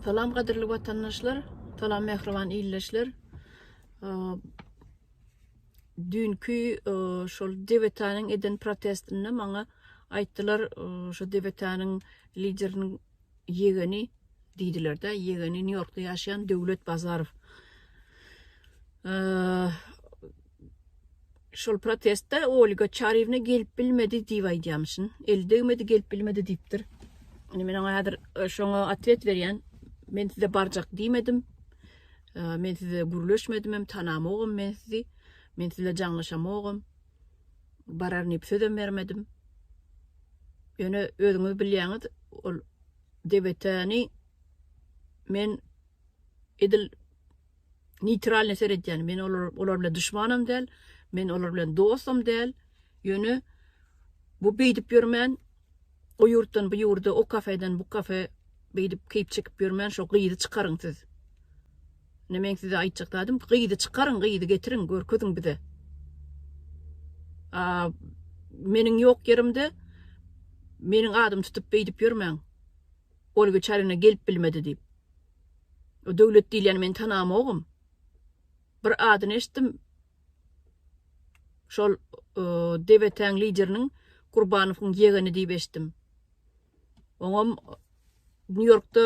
Salam gadyrly watandaşlar, salam mähriban illeşler. Düýnki şol DBT-niň eden protestinde maňa aýtdylar, şu DBT-niň lideriniň ýegeni diýdiler-de, ýegeni Nýu-Ýorkda ýaşaýan Döwlet Bazarow. Şol protestde Olga Çariýewna gelip bilmedi diýip aýdýamyşyn. Eli degmedi, gelip bilmedi diýipdir. Indi men oňa häzir e, şoňa atwet berýän. Men size barjak diýmedim. E, men size gürleşmedim hem, tanamogam men sizi. Men size jaňlaşamogam. Barar diýip sözem bermedim. Ýöne özüňiz bilýäňiz, ol DBT-ni men edil neýtralnyý seredýän. Men olar olar bilen duşmanam däl, men olar bilen dostam däl. Ýöne bu beýdip ýörmän, o ýurtdan bu ýurda, o kafeden bu kafe beýdip keýp çekip ýörmän şo gyzy çykaryň siz. Ine meň size aýtjak zadym, gyzy çykaryň, gyzy getiriň, görkeziň bize. A meniň ýok ýerimde meniň adym tutup beýdip ýörmäň. Ol wiçarina gelip bilmedi diýip. O Döwlet diýilýäni men tanamogum. Bir adyny eşitdim. Şol DBT-niň lideriniň Gurbanowyň ýegeni diýip eşitdim. Oňam Nýu-Ýorkda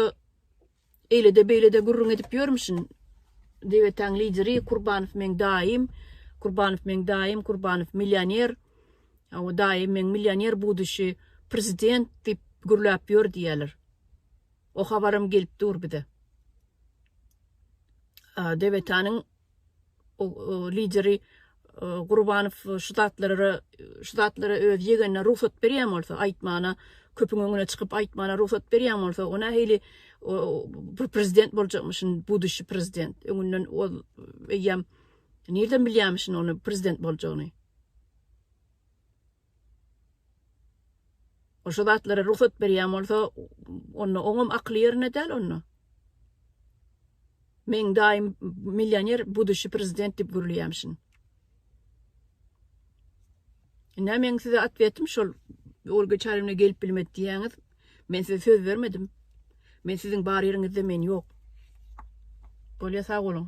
eýle-de beýle-de gürrüň edip ýörmüşin. DBT-niň lideri Gurbanow meň daýym, Gurbanow meň daýym, Gurbanow millioner. Hawa daýy meň millioner buduşi prezident diýip gürläp ýör diýýäler. O habaram gelip dur bize. Dewetanyň lideri Gurbanow şu zatlara şu zatlara öz ýegenine rugsat berýän bolsa aýtmana köpüň öňüne çykyp aýtmana rugsat berýän bolsa o nähili bir prezident boljakmyşyn buduşi prezident öňünden ol eýýäm nirden bilýämişin ony prezident boljagyny. Ol şu zatlara rugsat berýän bolsa, onda oňam akyly ýerinde däl onda. Meň daýym millioner, buduşi prezident diýip gürleýämişin. Ine meň size atwetim şol, Olga Çaryýewna gelip bilmedi diýýäňiz. Men size söz bermedim. Men siziň bar ýeriňizde men ýok. Bolýa sag boluň.